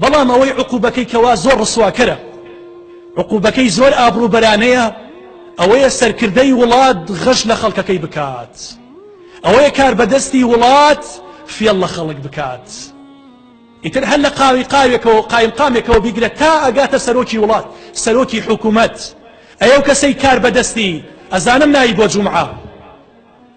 بەڵام ئەوەی عقوبەکەی کەوا زۆر ڕسواکەرە عقوبەکەی زۆر ئابروبەرانەیە ئەوەیە سەرکردەی وڵات غەش لە خەڵکەکەی بکات ئەوەیە کار بەدەستی وڵات فێڵ لە خەڵک بکات ئیتر هەر لە قاوی قاوێکەوە قایم قامێکەوە بیگرە تا ئەگاتە سەرۆکی وڵات سەرۆکی حکوومەت ئەو کەسەی کار بەدەستی ئەزانم ناوی بۆ جومعە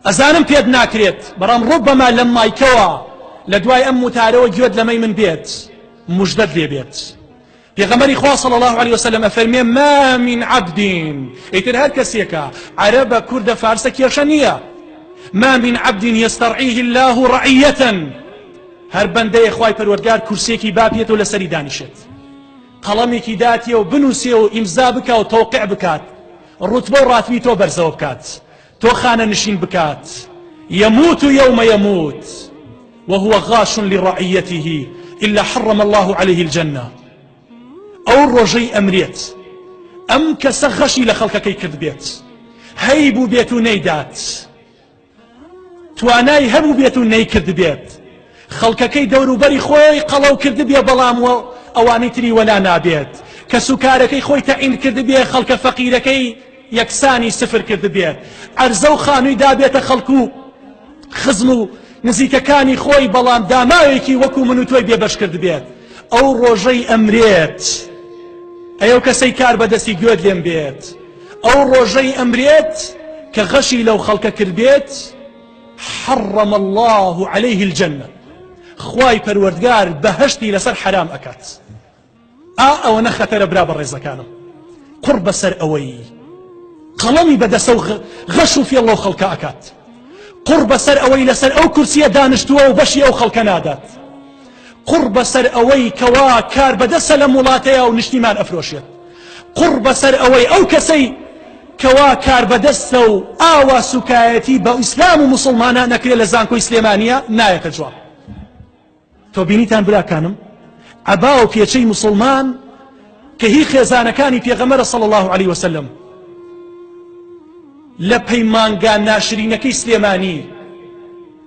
ئەزانم پێت ناکرێت بەڵام ڕوبەما لەم مایکەوە لە دوای ئەم وتارەوە گوێت لەمەی من بێت مژدەت لێ بێت پێغەمەری خوا صلی الله عليه وسلم ئەفەرمێ ما من عبد ئیتر هەر کەسێکە عەرەبە کوردە فارسە کێشە نییە ما من عبد يسترعيه الله رعية هەر بەندەیە خوای پەروەردگار کورسێکی باپێت و لەسەری دانیشێت قەڵەمێکی داتیە و بنووسێ و ئیمزا بکە و تەوقع بکات ڕوتبە و ڕاتبی تۆ بەرزەوە بکات تۆ خانەنشین بکات یموت یوم یموت وهو غاش لرعیته الا حرم الله عليه الجنە ئەو ڕۆژەی ئەمرێت ئەم کەسە غەشی لە خەڵکەکەی کرد بێت هەی بوو بێت و نەیدات توانای هەبوو بێت و نەیکرد بێت خەڵکەکەی دەوروبەری خۆی قەڵەو کردبێ بەڵام وە ئەوانی تری وەلا نابێت کەسوکارەکەی خۆی تەعین کردبێ خەڵکە فەقیرەکەی یەکسانی سفر کردبێت عەرزە و خانووی دابێتە خەڵکو خزم و نزیکەکانی خۆی بەڵام داماوێکی وەکو من و تۆی بێبەش کردبێت ئەو ڕۆژەی ئەمرێت ئەو کەسەی کار بەدەستی گوێت لێم بێت ئەو ڕۆژەی ئەمرێت کە غەشی لەو خەڵکە کردبێت حرم اللە علیه الجنە خوای پەروەردگار بەهشتی لەسەر حرام ئەکات ئا ئەوەنە خەتەرە برا بە ڕێزەکانم قڕ بەسەر ئەوەی قەڵەمی بەدەسە و غەش و فێڵ لەو خەڵکە ئەکات قڕ بەسەر ئەوەی لەسەر ئەو کورسیە دانیشتووە و بەشی ئەو خەڵکە نادات قوڕ بەسەر ئەوەی کەوا کاربەدەسە لەم وڵاتەیە و نیشتیمان ئەفرۆشێت قوڕ بەسەر ئەوەی ئەو کەسەی کەوا کاربەدەستە و ئاوا سوکایەتی بە ئیسلام و مسلمانان نەکرێت لە زانکۆی سلێمانە نایەتە جواب تۆ بینیتان براکانم عبا و پێچەی مسلمان کە هی خێزانەکانی پێغەمەرە صلی الله عليه وسلم لە پەیمانگا ناشرینەکەی سلێمانی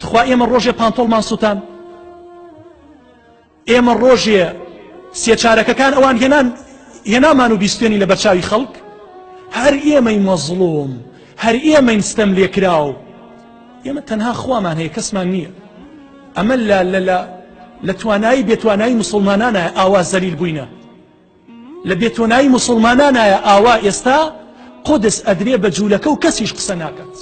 تخوا ئێمە ڕۆژێ پانتۆڵمان سووتان ئێمە ڕۆژێ سێچارەکەکان ئەوان هێنان هێنامان و بیستێنی لە بەرچاوی خەڵک هەر ئێمەی مەزڵوم هەر ئێمەین ستەم لێکراو ئێمە تەنها خوامان هەیە کەسمان نییە ئەمە لە لە لە لە توانایی بێتوانایی مسلمانانە ئاوا زەلیل بووینە لە بێتۆنایی مسلمانانایە ئاوا ئێستا قودس ئەدرێ بە جوولەکە و کەسیش قسە ناکات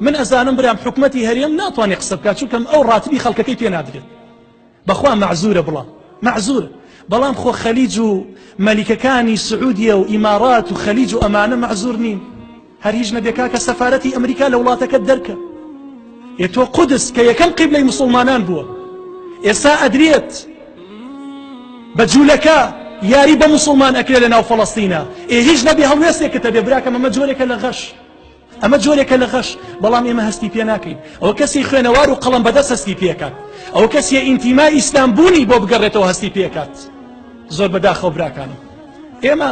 من ئەزانم برام حکومەتی هەرێم ناتوانێت قسە بکات چونکەم ئەو ڕاتبی خەڵکەکەی پێ نادرێت بەخوا مەعزورە بڵام مەعزور بەڵام خۆ خەلیج و مەلیکەکانی سعودیە و ئیمارات و خەلیج و ئەمانە مەعزور نین هەر هیچ نەبێ کاکە سەفارەتی ئەمریکا لە وڵاتەکەت دەرکە ئێ تۆ قودس کە یەکەم قیبلەی مسلمانان بووە ئێستا ئەدرێت بە جوولەکە یاری بە مسلمان ئەکرێ لە ناو فەڵەستینە ئێ هیچ نەبێ هەڵوێستێکتە بێ براکەم ئەمە جۆرێکە لە غەش ئەمە جۆرێکە لە غەش بەڵام ئێمە هەستی پێ ناکەین ئەوە کەسی خوێنەوار و قەڵم بەدەست هەستی پێکات ئەو کەسیە ئینتیما ئیسلام بوونی بۆ بگەڕێتەوە هەستی پێکات زۆر بەداخەوە براکانم ئێمە